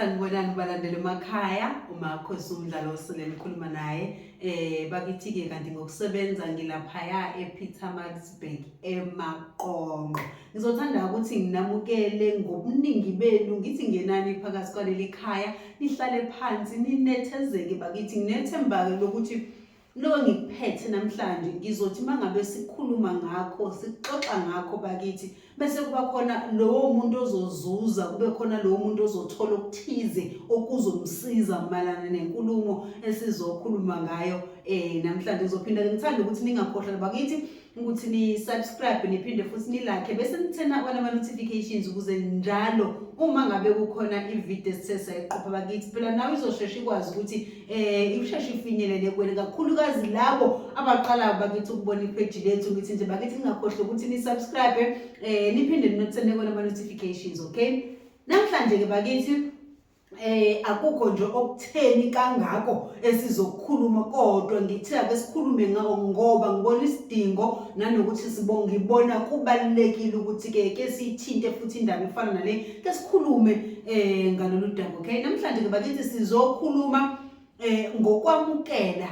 sanibonani balandela emakhaya umakho sumdlalo osele nikhuluma naye eh bakithi-ke kanti ngokusebenza ngilaphaya epeter maxburg emaqonqo ngizothanda ukuthi nginamukele ngobuningi benu ngithi ngenani phakathi kwaleli khaya nihlale phansi ninethezeke bakithi nginethemba-ke lokuthi Lo ngikuphethe namhlanje ngizothi mangabe sikhuluma ngakho sixoxa ngakho bakithi bese kuba khona lowo muntu ozozuza kube khona lowo muntu ozothola okuthize okuzomsiza malana nenkulumo esizokhuluma ngayo eh namhlanje ngizophinda ngithanda ukuthi ningakhohlwa bakithi ukuthi ni-subscribe niphinde futhi nilakhe bese nithena bona ama-notifications ukuze njalo uma ngabe kukhona ividiyo esithe sayiqopha bakithi phela nawe izosheshe ikwazi ukuthi um ikusheshe ifinyelele kwena kakhulukazi labo abaqalayo bakithi ukubona ipheji lethu ngithi nje bakithi ningakhohlwe ukuthi ni-subscribe um niphinde ninothene kona ama-notifications okay namhlanje-ke bakithi eh akukho nje okutheni kangako esizokhuluma kodwa ngithe ake sikhulume ngako ngoba ngibona isidingo nanokuthi sibonga ibona kubalekile ukuthi ke ke sithinte futhi indaba efana nale ke sikhulume eh ngalolu daba okay namhlanje ke bakithi sizokhuluma eh ngokwamukela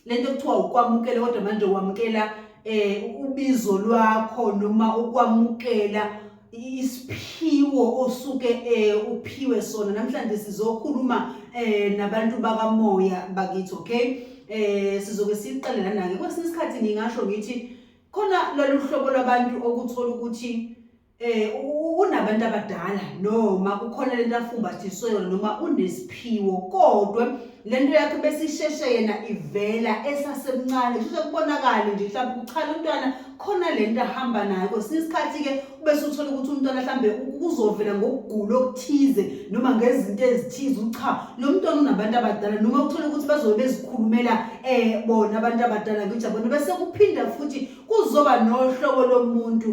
lento kuthiwa ukwamukela kodwa manje wamukela eh ubizo lwakho noma ukwamukela isiphiwo osuke eh uphiwe sona namhlanje sizokhuluma eh nabantu bakamoya bakithi okay eh sizoke siqale lana ke kwesinye isikhathi ngingasho ngithi khona lolu hlobo lwabantu okuthola ukuthi Eh u- unabantu abadala noma kukhona lento afumbathiswe yona noma unesiphiwo kodwa lento yakhe besisheshe yena ivela esasemncane kusho kubonakala nje mhlawumbe kuchala umntwana khona lento ahamba nayo kwesinye isikhathi ke ubese uthola ukuthi umntwana mhlawumbe u- kuzovela ngokugula okuthize noma ngezinto ezithize ukuthi cha lo mntwana unabantu abadala noma uthole ukuthi bazobe bezikhulumela eh bona abantu abadala ngijabona bese kuphinda futhi kuzoba nohlobo lomuntu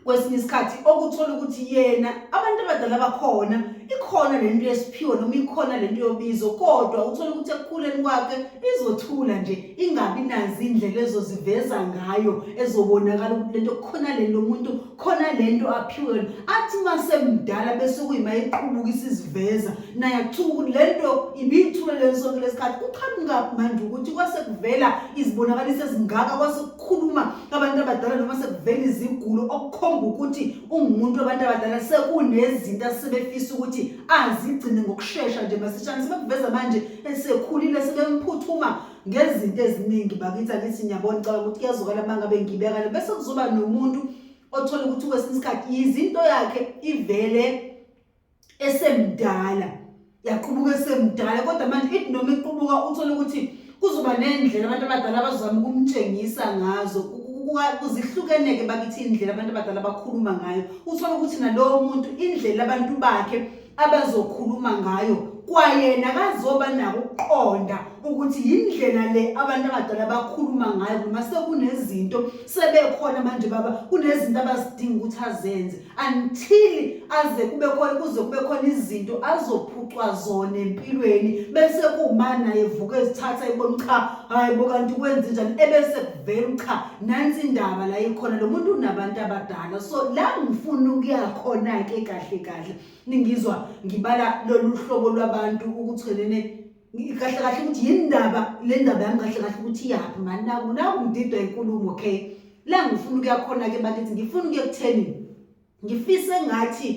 kwesinye isikhathi okuthola ukuthi yena abantu abadala bakhona ikhona le nto yesiphiwo noma ikhona le nto yobizo kodwa uthola ukuthi ekukhuleni kwakhe izothula nje ingabi nazi indlela ezoziveza ngayo ezobonakala ukuthi lento khona le nto umuntu khona le nto aphiwe athi uma semdala bese kuyima iqhubuka isiziveza naye akuthuka ukuthi le nto ibiyithule le nsonto lesikhathi kuqhamukaphi manje ukuthi kwase kuvela izibonakaliso ezingaka kwase khuluma abantu abadala noma sekuvela izigulo okukhomba ukuthi ungumuntu wabantu abadala sekunezinto asebefisa ukuthi azigcine ngokushesha nje masishane sebekuveza manje esekhulile sebemphuthuma ngezinto eziningi bakithi angithi ngiyabona caba ukuthi kuyazokala uma ngabe ngibekale bese kuzoba nomuntu othola ukuthi kwesinye isikhathi yizinto yakhe ivele esemdala yaqubuka esemdala kodwa manje ithi noma iqubuka uthole ukuthi kuzoba nendlela abantu abadala abazama ukumtshengisa ngazo kuzihlukeneke bakithi indlela abantu abadala bakhuluma ngayo uthole ukuthi nalowo muntu indlela abantu bakhe abazokhuluma ngayo kwayena kazoba nako ukuqonda ukuthi yindlela le abantu abadala bakhuluma ngayo noma sekunezinto sebekhona manje baba kunezinto abazidinga ukuthi azenze until aze kube khona kuze kube khona izinto azophucwa zona empilweni bese kuma naye vuka ezithatha ebona cha hayi bo kanti kwenze njani ebese kuvela cha nansi indaba la ikhona lo muntu unabantu abadala so la ngifuna ukuya khona ke kahle kahle ningizwa ngibala lolu hlobo lwabantu ukuthelene kahle kahle ukuthi yindaba le ndaba yami kahle kahle ukuthi iyaphi mani naku naku ngididwa inkulumo okay la ngifuna ukuyakhona-ke bakithi ngifuna ukuyokutheni ngifise ngathi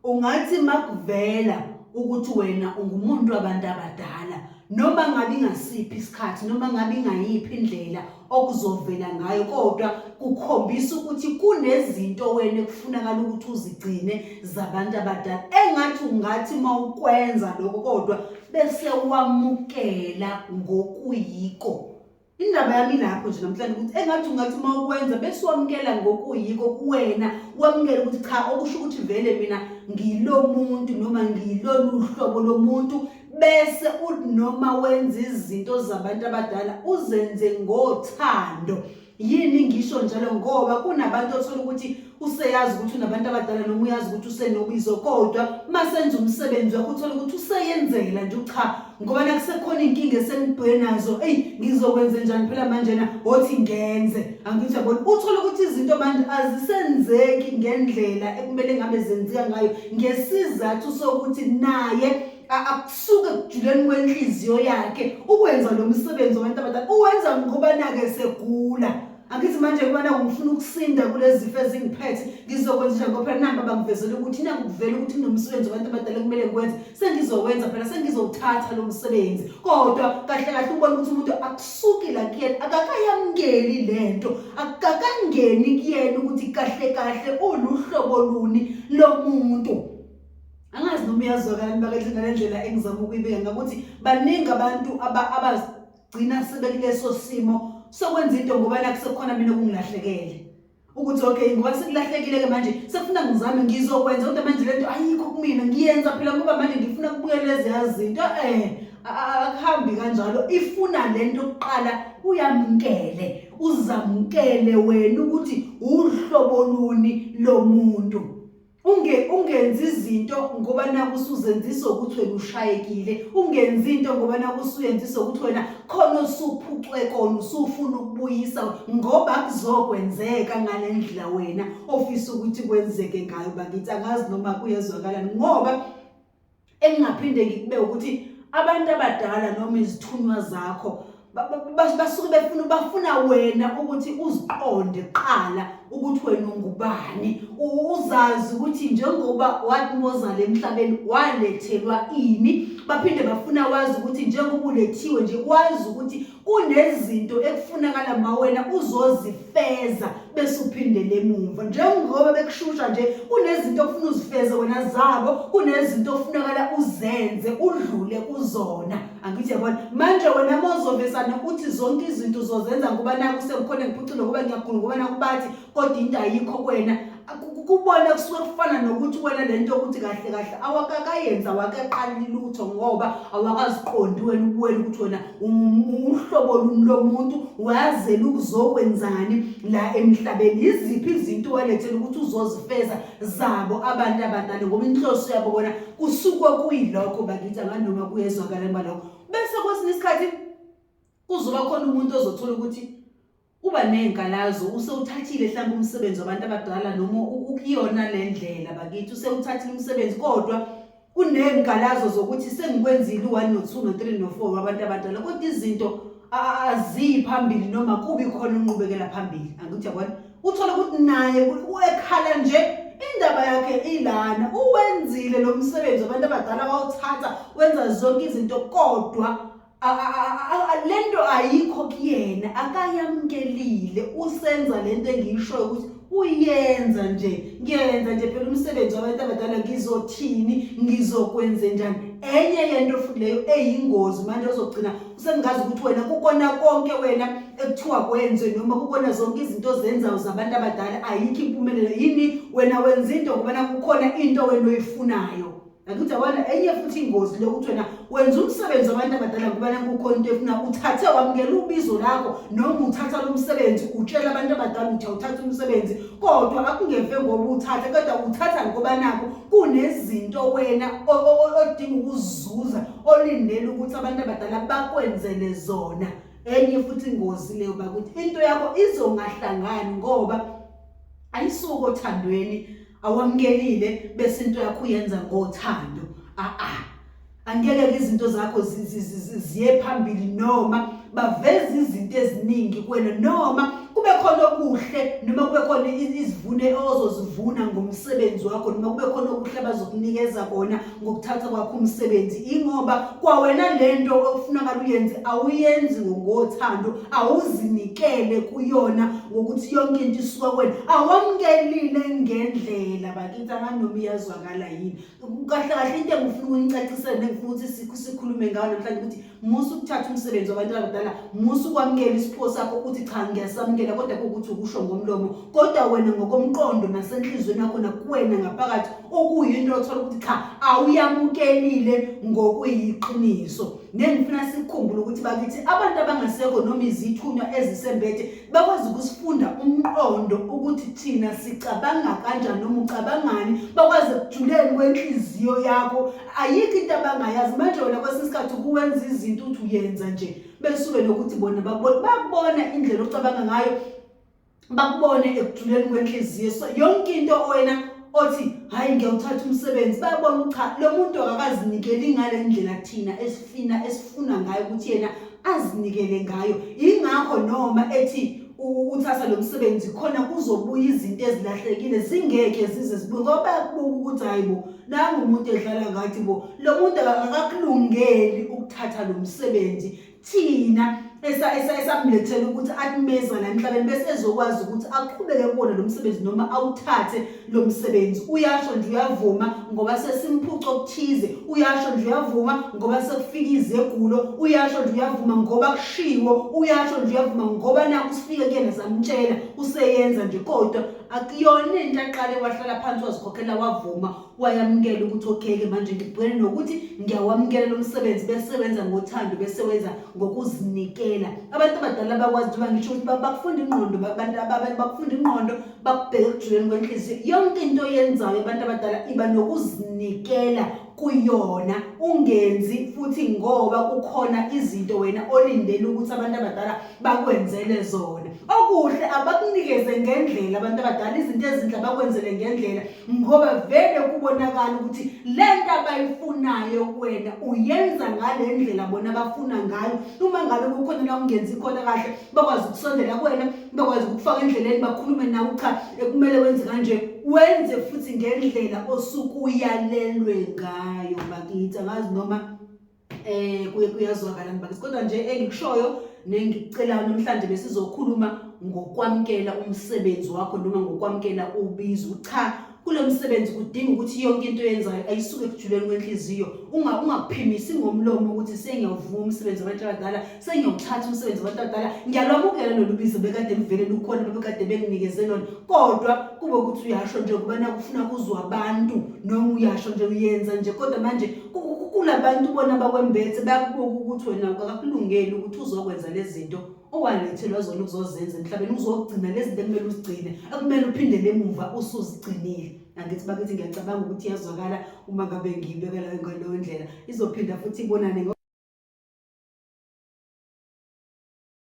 ungathi makuvela ukuthi wena ungumuntu wabantu abadala noma ngabe ingasiphi isikhathi noma ngabe ingayiphi indlela okuzovela ngayo kodwa kukhombisa ukuthi kunezinto wena ekufunakala ukuthi uzigcine zabantu abadala engathi ungathi uma ukwenza lokho kodwa bese wamukela ngokuyiko indaba yami lapho nje namhlanje ukuthi engathi ungathi uma ukwenza bese wamukela ngokuyiko kuwena wamukela ukuthi cha okusho ukuthi vele mina ngilo muntu noma ngilolu hlobo lomuntu bese uthi noma wenza izinto zabantu abadala uzenze ngothando yini ngisho njalo ngoba kunabantu othola ukuthi useyazi ukuthi unabantu abadala noma uyazi ukuthi usenobizo kodwa uma senza umsebenzi wakho uthola ukuthi useyenzela nje cha ngoba nakusekhona inkinga esenibheke nazo eyi ngizokwenze njani phela manjena othi ngenze angithi yabona uthola ukuthi izinto manje azisenzeki ngendlela ekumele ngabe zenzeka ngayo ngesizathu sokuthi naye akusuke kujuleni kwenhliziyo yakhe ukwenza lo msebenzi wabantu abadala uwenza ngokubana-ke segula angithi manje kubana ngifuna ukusinda kulezi zifo ezingiphethe ngizokwenza njani ngoba phela namba bangivezela ukuthi na ngikuvela ukuthi kunomsebenzi wabantu abadala kumele ngikwenze sengizowenza phela sengizowuthatha lo msebenzi kodwa kahle kahle ubona ukuthi umuntu suki la kuyena akakayamukeli lento akakangeni kuyena ukuthi kahle kahle uluhlobo luni lomuntu angazi noma uyazwakani bakathi ngalendlela engizama ukuyibeka ngakuthi baningi abantu abagcina sebekuleso simo sokwenza into ngoba nakusekhona mina kungilahlekele ukuthi okay ngoba sekulahlekile-ke manje sekufuna ngizame ngizokwenza kodwa manje le nto ayikho kumina ngiyenza phela ngoba manje ngifuna kubuyela eziya zinto um akuhambi kanjalo ifuna le nto kuqala uyamkele uzamkele wena ukuthi uhlobo luni lo muntu unge ungenzi izinto ngoba naku usuzenzisa ukuthi wena ushayekile ungenzi into ngoba naku usuyenzisa ukuthi wena khona usuphucwe kona usufuna ukubuyisa ngoba kuzokwenzeka ngalendlela wena ofisa ukuthi kwenzeke ngayo bakithi angazi noma kuyezwakalani ngoba engingaphinde ngikube ukuthi abantu abadala noma izithunywa zakho basuke befuna bafuna wena ukuthi uziqonde kuqala ukuthi wena ungubani uzazi ukuthi njengoba wathi mozala emhlabeni walethelwa ini baphinde bafuna wazi ukuthi njengoba ulethiwe nje wazi ukuthi kunezinto ekufunakala mawena uzozifeza bese uphindele emuva njengoba bekushusha nje kunezinto okufuna uzifeze wena zabo kunezinto ofunakala uzenze udlule kuzona angithi yabona manje wena mozovesana uthi zonke izinto uzozenza ngoba naku sekukhona ngiphucule ngoba ngiyagula ngoba nakubathi kodwa into ayikho kwena kubona kusuke kufana nokuthi wena lento ukuthi kahle kahle awakakayenza wakaqali lutho ngoba awakaziqondi wena ubuwena ukuthi wena uhlobo luni lomuntu wazela ukuzokwenzani la emhlabeni iziphi izinto walethela ukuthi uzozifeza zabo abantu abadala ngoba inhloso yabo bona kusuke kuyilokho bakithi anganoma kuyezwakala embalokho bese kwesinye isikhathi kuzoba khona umuntu ozothola ukuthi Uba nezinkalazo usewuthathile mhlawumbe umsebenzi wabantu abadala noma ukuyona le ndlela bakithi usewuthathile umsebenzi kodwa unezinkalazo zokuthi sengikwenzile u-one no-two no-three no-four wabantu abadala kodwa izinto aziyi phambili noma kubi khona unqubekela phambili angithi yabona uthole ukuthi naye ekhala nje indaba yakhe ilana uwenzile lo msebenzi wabantu abadala wawuthatha wenza zonke izinto kodwa lento ayikho kuyena akayamkelile usenza lento engiyishoyo ukuthi uyenza nje ngiyenza nje phela umsebenzi wabantu abadala ngizothini ngizokwenze njani enye yento futhi leyo eyingozi manje ozogcina usengazi ukuthi wena kukona konke wena ekuthiwa kwenze noma kukona zonke izinto ozenzayo zabantu abadala ayikho impumelelo yini wena wenza into ngoba kukhona into wena oyifunayo Ngakuthi yabona enye futhi ingozi lokuthi wena wenza umsebenzi wabantu abadala kubana kukhona into efuna uthathe wamukela ubizo lakho noma uthatha lo msebenzi utshela abantu abadala ukuthi awuthathe umsebenzi kodwa akungeve ngoba uthathe kodwa uthatha ngoba nakho kunezinto wena odinga ukuzuza olindele ukuthi abantu abadala bakwenzele zona enye futhi ingozi leyo bakuthi into yakho izongahlangani ngoba ayisuko othandweni awamkelile bese into yakho uyenza ngothando a a angeke ke izinto zakho ziye phambili noma baveza izinto eziningi kwena noma kube khona okuhle noma kube khona izivune ozozivuna ngomsebenzi wakho noma kube khona okuhle abazokunikeza kona ngokuthatha kwakho umsebenzi ingoba kwawena lento okufunakala uyenze awuyenzi ngothando awuzinikele kuyona ngokuthi yonke into isuka kwena awamkelile ngendlela bakithi anganoma iyazwakala yini kahle kahle into engifuna ukunicacisele nengifuna ukuthi sikhulume ngayo namhlanje ukuthi musa ukuthatha umsebenzi wabantu abadala musa ukwamukela isiphiwo sakho ukuthi cha ngiyasamukela kodwa kuwukuthi ukusho ngomlomo kodwa wena ngokomqondo nasenhliziyweni yakho nakuwena ngaphakathi okuyinto othola ukuthi cha awuyamukelile ngokuyiqiniso nengifuna sikukhumbule ukuthi bakithi abantu abangasekho noma izithunywa ezisembethe bakwazi ukusifunda umqondo ukuthi thina sicabanga kanjani noma ucabangani bakwazi ekujulela kwenhliziyo yakho ayikho into abangayazi manje wena kwesinye isikhathi ukuwenza izinto uthi uyenza nje besuke nokuthi bona bakubona bakubona indlela ocabanga ngayo bakubone ekujuleni kwenhliziyo so yonke into wena othi hayi ngiyawuthatha umsebenzi bayabona ukuthi cha lo muntu akakazinikeli ngale ndlela thina esifina esifuna ngayo ukuthi yena azinikele ngayo ingakho noma ethi uthatha lo msebenzi khona kuzobuya izinto ezilahlekile zingeke zize zibuye ngoba bayakubuka ukuthi hayi bo nangu umuntu edlala ngathi bo lo muntu akakulungeli ukuthatha lo msebenzi thina esamlethela ukuthi akumeza la emhlabeni bese ezokwazi ukuthi aqhubeke kuwona lo msebenzi noma awuthathe lo msebenzi uyasho nje uyavuma ngoba sesimphuca okuthize uyasho nje uyavuma ngoba sekufika izegulo uyasho nje uyavuma ngoba kushiwo uyasho nje uyavuma ngoba naku usifike kuyena samtshela useyenza nje kodwa akuyona into aqale wahlala phansi wazikhokhela wavuma wayamukela ukuthi okheke manje ngibhekene nokuthi ngiyawamukela lo msebenzi bese wenza ngothando bese wenza ngokuzinikela abantu abadala bakwazi njengoba ngisho ukuthi bakufunda ingqondo abantu abanye bakufunda ingqondo bakubheka ekujuleni kwenhliziyo yonke into oyenzayo abantu abadala iba nokuzinikela kuyona ungenzi futhi ngoba kukhona izinto wena olindele ukuthi abantu abadala bakwenzele zona okuhle abakunikeze ngendlela abantu abadala izinto ezinhle bakwenzele ngendlela ngoba vele kubonakala ukuthi le nto abayifunayo wena uyenza ngale ndlela bona bafuna ngayo uma ngabe kukhona la ungenzi khona kahle bakwazi ukusondela kuwena bakwazi ukufaka endleleni bakhulume nawe cha ekumele wenze kanje wenze futhi ngendlela osukuyalelwe ngayo bakithi angazi noma eh kuye kuyazwakala ngibakithi kodwa nje engikushoyo nengicelayo namhlanje besizokhuluma ngokwamkela umsebenzi wakho noma ngokwamkela ubizo cha kulo msebenzi kudinga ukuthi yonke into oyenzayo ayisuke ekujuleni kwenhliziyo ungakuphimisi ngomlomo ukuthi sengiyawuvuma umsebenzi wabantu abadala sengiyawuthatha umsebenzi wabantu abadala ngiyalwamukela lolu bizo bekade livele lukhona bebekade benginikeze lona kodwa kube ukuthi uyasho nje kuba nakufuna kuzwa abantu noma uyasho nje uyenza nje kodwa manje kulabantu bona bakwembethe bayakubuka ukuthi wena akakulungeli ukuthi uzokwenza lezi zinto owangithi lozona ukuzozenza emhlabeni uzogcina lezi zinto ekumele uzigcine ekumele uphindele emuva usuzigcinile angithi bakithi ngiyacabanga ukuthi iyazwakala uma ngabe ngiyibekela ngaleyo ndlela izophinda futhi ibonane